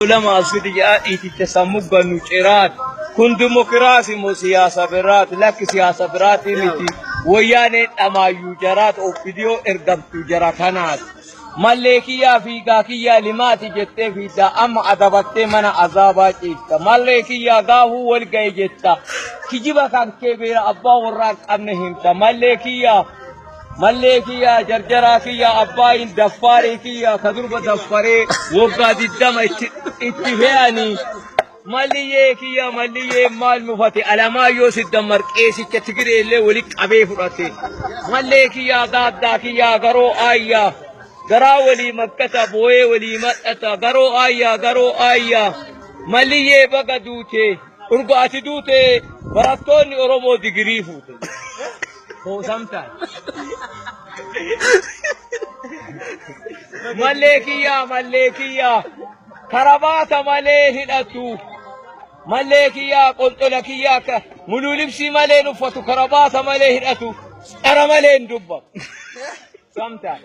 Ulama asiti jaa iticha sammu gannu ciraat kun dimokiraasi mo siyaasa biraati lakki siyaasa biraati miti woyyaanee dhamaayyuu jaraat obbidiyoo ergamtuu jara kanaati mallee kiyyaa fiigaa kiyyaa limaati jettee fiiddaa amma adabattee mana azaabaa ciifta mallee kiyyaa gaafuu wal ga'e jetta kijiba kan kee beera abbaa warraa qabne himta mallee kiyyaa Mallee kiyya jarjaraa kiyya abbaayin daffaarii kiyya ka durba daffaree waggaa diddama itti itti fe'anii malliyyee kiyya malliyyee maal mufate alamaayyoo siddammar qeesicha tigiree illee wali qabee fudhate mallee kiyya daaddaa kiyya garoo aayyaa garaa walii makkata booyee walii madhata garoo aayyaa garoo aayyaa malliyyee baga duute urga ati duute barattoonni Oromoo digirii fuute. Hoosamtaan. Mallee kiyyaa mallee kiyyaa karabaata malee hidhatu. Mallee kiyyaa qolxola kiyyaa akka muluu libsii malee hin uffatu karabaata malee hidhatu dhara malee hin dubbamu. Samtaan.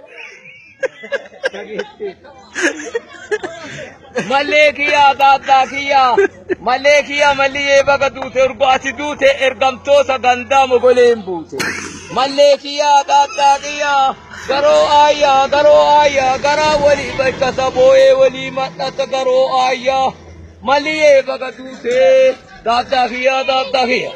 Mallee kiyyaa gaaggaa kiyyaa. Mallee kiyyaa malliyyee baga duute urgo ati duute ergamtoota gandaa mogoleen buute. Mallee kiyyaa gaaggaa kiyyaa. Garoo aayyaa garoo aayyaa garaa walii bakka saboo'ee walii madhata garoo aayyaa. Malliyyee baga duute gaaggaa kiyyaa gaaggaa kiyyaa.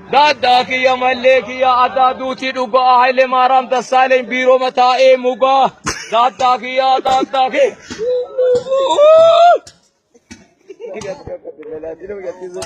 Gaddaa kiyya mallee kiyya addaa duutii dhugaa Haile Maaraam Dassaaleny biiroma taa'ee mugaa gaddaa kiyya gaddaa kiyya.